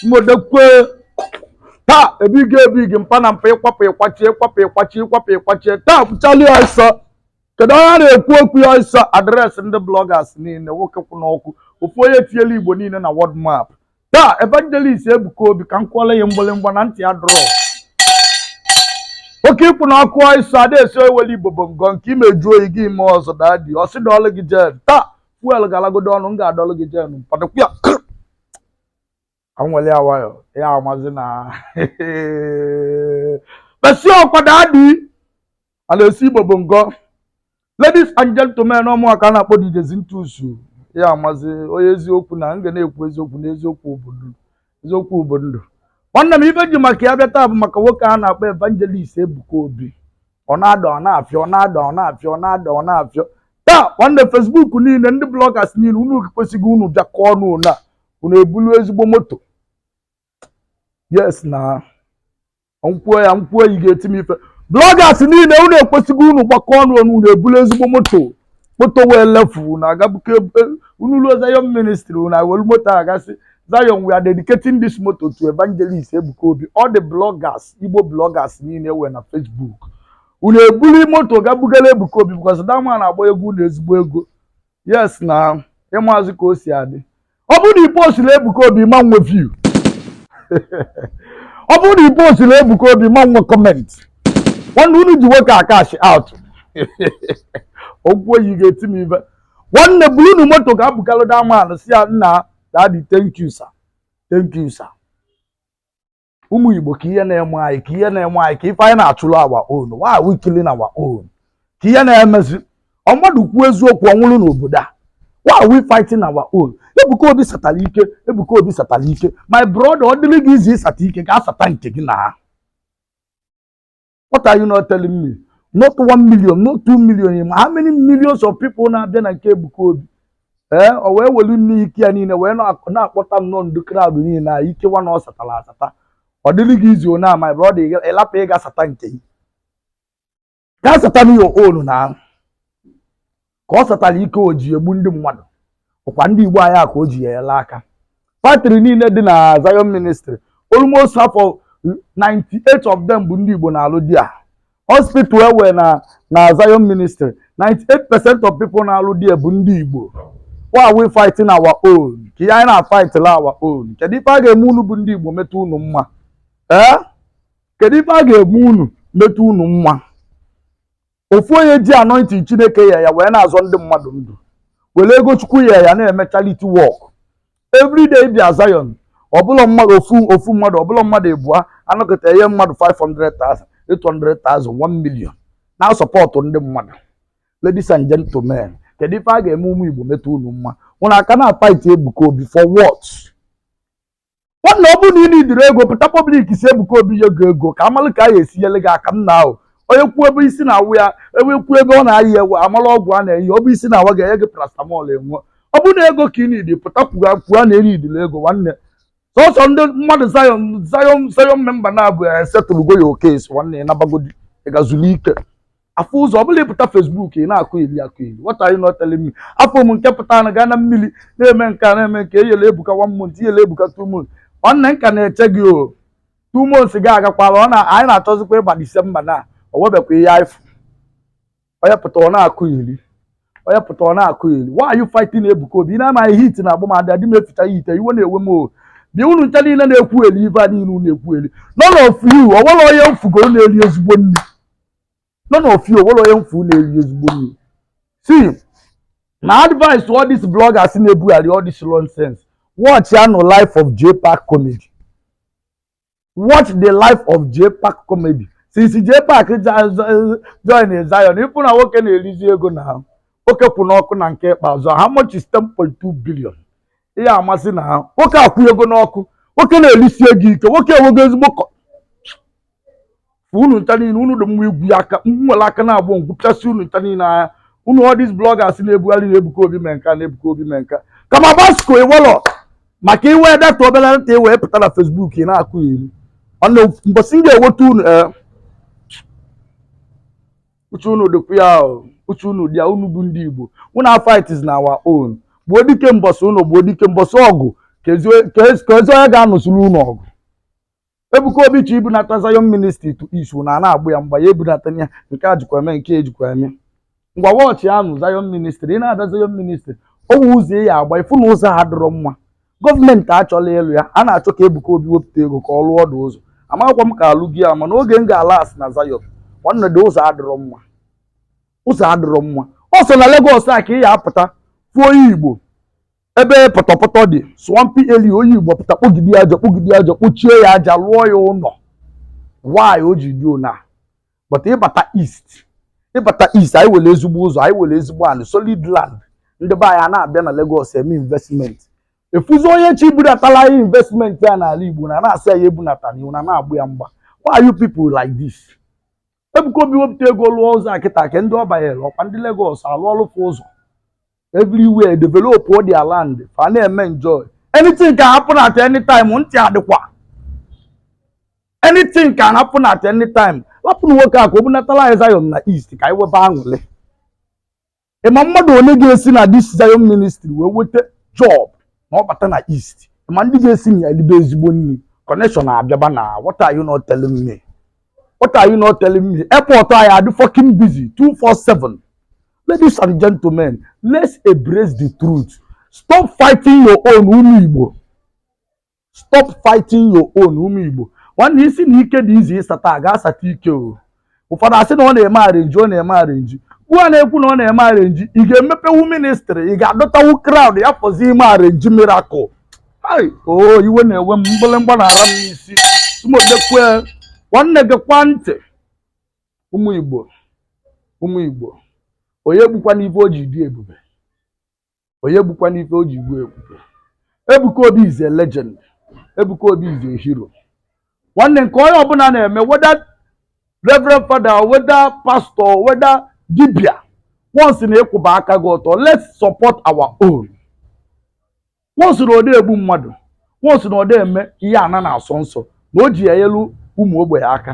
mmodekwe taa ebighị ebighị mpa na mpa ịkwapụ ịkwachi ịkwapụ ịkwachi ịkwapụ ịkwachi taa pụchali ọsọ kedu onye a na-ekwu okwu ya ọsọ address ndị bloggers niile nwoke kwụ n'ọkụ ofu onye etiela igbo niile na world map taa evangelist ebuka obi ka m kwụọla ya mgbịrịmgba na ntị ya drọ oke ịkwụ na ọkụ iso ada esi eweli igbo bụ ngọ nke ime jụọ oyi gị ime ọzọ daddy ọ sị dọọlụ gị gen taa fuel galagodo ọnụ m ga-adọlụ gị gen mpadụkwu ya anwele ya nwayọ ya amazi na besi ọkwa daddy ala esi igbo bụ ngọ ladies and gentlemen ọ mụwa ka a na-akpọ DJ Zintus ya amazi onye eziokwu na m ga na-ekwu eziokwu na eziokwu bụ ndụ eziokwu bụ ndụ nwanne m ife ji maka ya bịa taa bụ maka nwoke a na-akpọ evangelist Ebuka Obi ọ na-ada ọ na-afịọ ọ na-ada ọ na-afịọ ọ na-ada ọ na-afịọ taa nwanne Facebook niile ndị bloggers niile unu kwesịghị unu bịakọ ọnụ unu a unu ebulu ezigbo moto yes na m kwuo ya m kwuo ya ị ga-eti m ife bloggers niile unu ekwesịghị unu gbakọ ọnụ ọnụ unu ebulu ezigbo moto moto nwee level na agabuke unu ruo Zion ministry unu awelu moto a gaa sị Zion we are dedicating this moto to evangelist Ebuka Obi all the bloggers Igbo bloggers niile wee na Facebook unu ebuli moto gaa bugara Ebuka Obi because that man agba egwu unu ezigbo ego yes na ị mazị ka o si adị ọ bụrụ na ị postrọ Ebuka Obi ị ma nwe view ọ bụrụ na ị postrọ Ebuka Obi ị ma nwe comment nwanne unu ji nwoke a cash out m kwuo ya ị ga-eti m ife nwanne bulunu moto gaa bugalụ that man si ya nna daddy thank you sir thank you sir ụmụ igbo ka ihe na-eme anyị ka ihe na-eme anyị ka ife anyị na-achụrụ our own why are we killing our own ka ihe na-emezi ọ mmadụ kwuo eziokwu ọ nwụrụ n'obodo a why are we fighting our own ebuka obi satara ike ebuka obi satara ike my brother ọ dịrị gị easy ịsata ike gaa sata nke gị na what are you not telling me not one million not two million ị ma how many millions of people na-abịa na nke Ebuka Obi ee eh, o wee welu nne ike ya niile wee na-akpọta nnọọ ndị crowd niile na ike nwa na ọ satara asata ọ dịrị gị easy na my brother ị lapụ ịga sata nke gị gaa satanụ your own na ka ọ satara ike o ji egbu ndị mmadụ ọkwa ndị Igbo anyị a ka o ji ya enye aka factory niile dị na Zion ministry almost half of 98 of them bụ ndị Igbo na-alụ there hospital e nwe na na Zion ministry 98 percent of people na-alụ there bụ ndị Igbo why are we fighting our own ka ihe anyị na-afightla our own kedu ife a ga-eme unu bụ ndị Igbo meta unu mma ee kedu ife a ga-eme unu meta unu mma ofu onye ji anointing chineke nye ya wee na-azọ ndị mmadụ ndụ were ego chukwu nye ya na-eme charity work everyday bịa Zion ọ bụrọ mmadụ ofu ofu mmadụ ọ bụrọ mmadụ ịbụa a nọkata e nye mmadụ 500,000 800,000 1 million na-asọpọtụ ndị mmadụ ladies and gentlemen kedu ife a ga-eme ụmụ Igbo meta unu mma unu were aka na-afight Ebuka Obi for what nwanne ọ bụrụ na ị nidiri ego pụta public sị Ebuka Obi nye gị ego ka a malụ ka a ya-esi nyere gị aka nna ahụ onye kwuo ebe isi na-awa ya ebe kwuo ebe ọ na-aya e wee malụ ọgwụ a na-enye ọ bụ isi na-awa gị e nye gị paracetamol enwe ọ bụrụ na ego ka ị nidi pụta kwuga kwuga na ị nidiri ego nwanne sọsọ ndị mmadụ Zion Zion Zion member na-abụ ya esettlego your case nwanne ya nabagodi ịga zulu ike afọ ụzọ ọbụla ị pụta Facebook ị na-akọyeri akọyeri what are you not telling me afụ m nke pụta na-aga na mmiri na-eme nke a na-eme nke e nyelụ ebuka one month e nyelụ ebuka two months nwanne m ka na-eche gị o two months gị agakwala ọ na anyị na-achọzikwa ịba disemba na o nwebekwa ihe anyị fụ onye pụta ọ na-akọyeri onye pụta ọ na-akọyeri why are you fighting ebuka obi ị na-amaghị heat na-egbu m adị adị m eficha heat iwe na-ewe m o bịa unu ncha niile na-ekwuyeri ife a niile unu na-ekwuyeri none of you ọ nwere onye m fụgo na-eri ezigbo nri none of you o nwere onye m fụ na-eri ezigbo nri see my advice to all these bloggers na-ebugharị all this nonsense watchịanụ life of jpac comedy watch the life of jpac comedy since jpac ja- ja- join zion ị fụ na nwoke na-erizi ego na ahụ nwoke kwụ n'ọkụ na nke ikpeazụ how much is 10.2 billion ị ya-ama sị na ahụ nwoke akwụ ego n'ọkụ nwoke na-erisi ego ike nwoke enwego ezigbo kọ- fụ unu ncha niile unu dị mma igwu ya aka m were aka naabọ m gwupịasị unu ncha niile anya unu all these bloggers na-ebugharị na Ebuka Obi mee nka na Ebuka Obi mee nka kama basko i nwelụ maka i nwe data obere nta i wee pụta na Facebook ị na-akọyeri ọnụ mbọsị m ga-enweta unu ee uche unu dịkwa ya ahụ uche unu dị ya unu bụ ndị Igbo unu fight is na our own gbuo dike mbọsị unu gbuo dike mbọsị ọgụ kezi onye ga-anụsịrị unu ọgụ Ebuka Obi chọ ibunata Zion Ministry to East na a na-agba ya mgba ya ebunata ya nke a jikwa eme nke ejikwa eme ngwa watchịanụ Zion Ministry ị na-abịa Zion Ministry o nwe ụzọ ị ya-agba ị fụ na ụzọ adịrọ mma gọọmenti achọrọ ịlụ ya a na-achọ ka Ebuka Obi wepụta ego ka ọ lụọ ọdụ ụzọ amakwa m ka a lụgo ya mana oge m galụ last na Zion nwanne dị ụzọ adịrọ mma ụzọ adịrọ mma ọ sọ na Lagos a ka ị ya-apụta fụọ onye Igbo ebe pọtọpọtọ dị swampy area onye igbo pụta kpogide ya aja kpogide ya aja kpochie ya aja lụọ ya ụlọ why o ji dị ona but ịbata east ịbata east anyị nwere ezigbo ụzọ anyị nwere ezigbo anị solid land ndị be anyị a na-abịa na Lagos eme investment a fụzị onye chọ ibudatalụ anyị investment ya n'ala igbo unu na-asị ya ebunatana unu na-agba ya mgba why are you people like this Ebuka Obi wepụta ego lụọ ụzọ a kịta kee ndị ọ banyere ọkwa ndị Lagos alụọlụ fa ụzọ everywhere develop all their land fa na-eme enjoy anything can happen at any time ntị adịkwa anything can happen at any time lapụnụ nwoke a ka o bunatala anyị Zion na east ka anyị webe aṅụrị ịma mmadụ one ga-esi na this Zion ministry wee weta job ma ọ bata na east ịma ndị ga-esi na ya elibe ezigbo nri connection abịaba na what are you not telling me what are you not telling me airport anyị adị fucking busy 247 ladies and gentlemen let's embrace the truth stop fighting your own ụmụ igbo stop fighting your own ụmụ Igbo nwanne ị sị na ike dị easy ịsata gaa sata ike o ụfọdụ asị na ọ na-eme arrangee ọ na-eme arrangee gịwa na-ekwu na ọ na-eme arrangee ị ga-emepewu ministry ị ga-adọtawu crowd ya fọzi ime arrangee miracle hai o, iwe na-ewe m mgbịlịmgba na-ada m n'isi sumodekwe nwanne gị kwa ntị ụmụ igbo ụmụ igbo onye gbukwana ife o ji dị ebube onye gbukwana ife o ji gbuo ebube Ebuka Obi is a legend Ebuka Obi is a hero nwanne nke onye ọbụla na-eme whether reverend father whether pastor whether dibia once na ịkwụba aka gị ọtọ let's support our own once na ọda egbu mmadụ once na ọda eme ihe ana na-asọ nsọ na o ji ya enyelu ụmụ ogbenye aka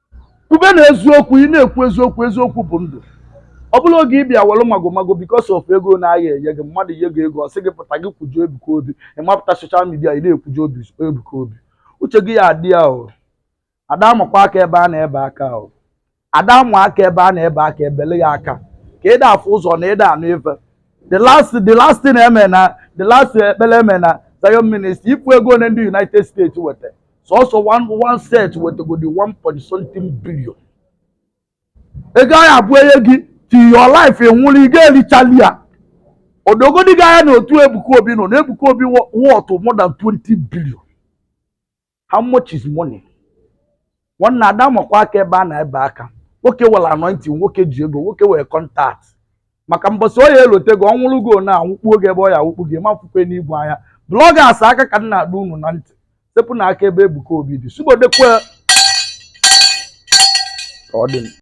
Kwube na eziokwu, ị na-ekwu eziokwu, eziokwu bụ ndụ. Ọ bụrọ oge ị bịa were magomago because of ego na a ya-enye gị, mmadụ nye gị ego ọ sị gị pụta gị kwujọọ Ebuka Obi, ị mapụta social media ị na-ekwujọ Obi Ebuka Obi. Uche gị ya adị ya o. Ada amakwa aka ebe a na-ebe aka o. Ada amụ aka ebe a na-ebe aka ebele ya aka ka ịda afụ ụzọ na ịda anụ ife. The last the last thing eme na the last ekpere eme na Zion ministry ị fụ ego ole ndị United States wete sọsọ one set wetegodi one point something billion ego ahụ abụ enye gị till your life ị nwụrụ ị ga-erichali ya odogodi gị anya na otu Ebuka Obi nọ na Ebuka Obi worth more than 20 billion how much is money nwanne ada amakwa aka ebe a na ebe aka nwoke were anointing nwoke ji ego nwoke were contact maka mbọsị ọ ya elote gị ọnwụrụ gị na anwụkpuo gị ebe ọ ya awụkpu gị ma fụkwe n'igwe anya bloggers aka ka m na-adọ unu na ntị sepụnụ aka ebe Ebuka Obi dị sugbodekwe ka ọ dị m